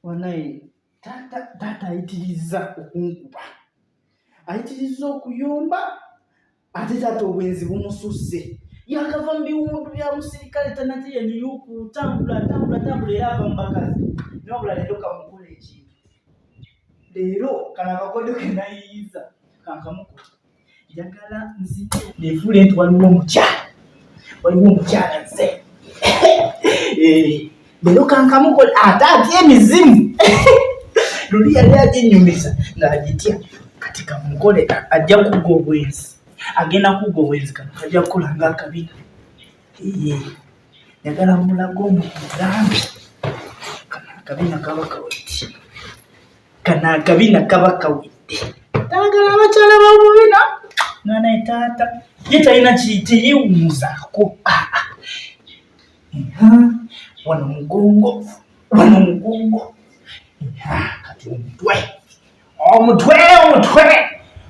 wanaye taata taata ayitirizza okunkuba ayitirizza okuyomba ate taata obwenzi bumususse yakava mu biwundu bya musirikale tanate yeniyuku tambula tambula tambula era ava mu bakazi nobula leero kamukola ekintu leero kano akakodyo kenayiyiza kankamukuta njagala nzite nefuule nti waliwo omukyala waliwo omukyala nze eh, leero kankamukola ate atya emizimu luli yali aginyumiza ng'agitya kati kamukole ajja kugga obwenzi agenda kugga obwenzi kano kajja kukola ng'akabina eh, njagala mulaga omugambi kana akabina kaba kaweti kana akabina kaba kawedde taagala abakyala bamubina nga naye taata ye talina kiteyewumuzaako ah, ah. wano mugongo wano mugongo kati omutwe omutwe omutwe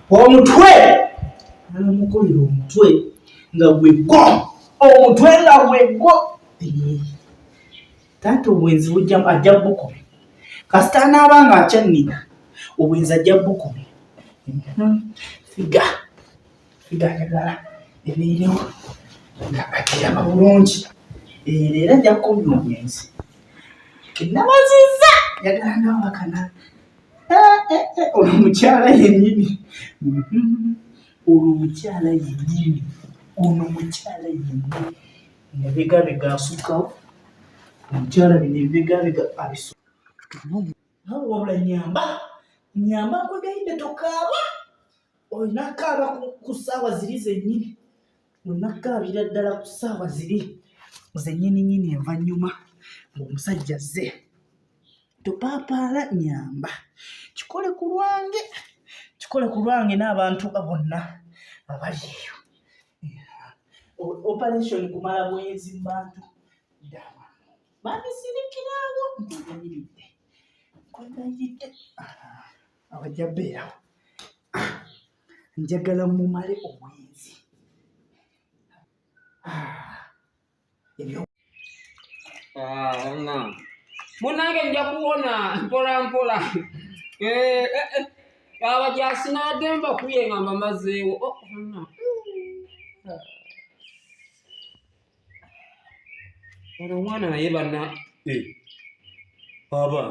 omutwe alamukolera omutwe nga gwegwo omutwe nga gwegwo taata obwenzi bujjamu ajja bukumi kasita anaaba nga akyannina obwenzi ajja bukumi mhm. figa figa ayagala ebeerewo nga akiraba bulungi eh, leero ajja kukumya obwenzi kenabazizza yagala nawakana eh, eh, olwo mukyala yenyini mhm. olwo mukyala yenyini ono mukyala yenyini Nebigabega asukkawo omukyala bino ebibigabega abisukkawo wabula nyamba nyamba nkwegaidde tokaaba olina kaaba ku ssaawa ziri zennyini olina kaabira ddala ku ssaawa ziri zennyininyini envanyuma ng'omusajja zze topaapaala nyamba kikole ku lwange kikole ku lwange n'abantu bonna abali eyo operation kumala bwenzi mubantu dama bandisirikirawo ntinyimiridde kwenayiridde abajja beerawo njagala mumale obwenzi munange nja kuwona mpola mpola eh, eh, eh. abajaasi nagemba kuye nga mbamazeewo oh, ono omwana naye bana aba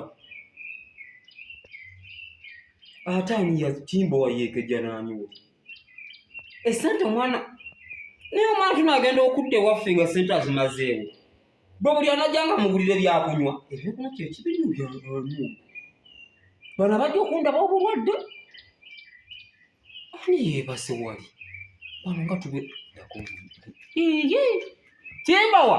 ate ani yatimba wayekejanaaniwo esente omwana naye omwana tuno agenda okudda ewaffe nga sente azimazeewo bwe buli anajanga mugulire byakunywa ebyokunywa kyekibinu byamu bano abajja okundaba obulwadde ani yebase wali bano nga tube kimbawa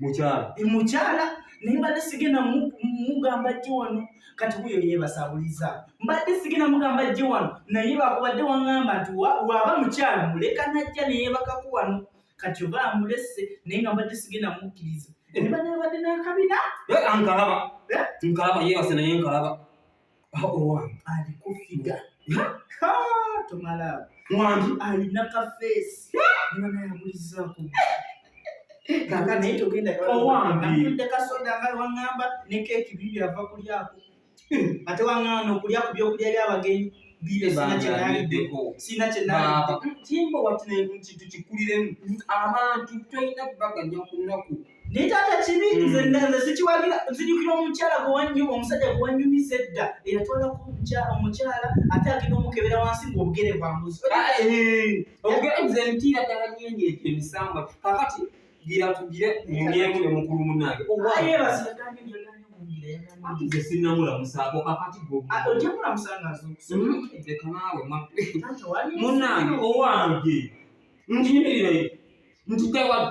mukyala e, mukyala naye mbadde sigenda mugamba jje wano kati wuyo yebasabuliza mbadde sigenda mugamba jje wano naye bakubadde waŋŋamba nti waaba mukyala muleka najja neyebakako wano kati oba amulese naye nga mbadde sigenda mukkiriza ebibadde eh. babadde nakabina eh, ankalaba eh? nkalaba yebase naye nkalaba owange ali kufiga tomala mwami alina kafeesi niba naye amulizaako kaka naye togenda owange kasoda nga wangamba ne keeki bibi ava kulyako hmm. ate wangamba nokulya ku byokulya byabagenyi sina kyenaimba wati kintu kikuliremu abantu tolina baganya ku nnaku naye taata kibi hmm. nze nze sikiwagira nzijukira omukyala gwewanyuma omusajja gwewanyumiza edda eyatwalako omukyala ate agenda omukebera wansi ngaobugere bwambuzi ah, eh, obugere nze ntiira ddala nyenye ebyo emisambwa kakati gira tugire munyemu ne mukulu munange nze sinamulamusaako kakati gwoekanawe munange owange njimirire nti tewali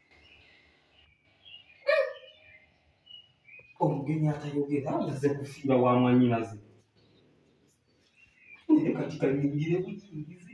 omugenyi atayogera amaze kufiira wa mwanyinaze naye kati kanyingire buyingizi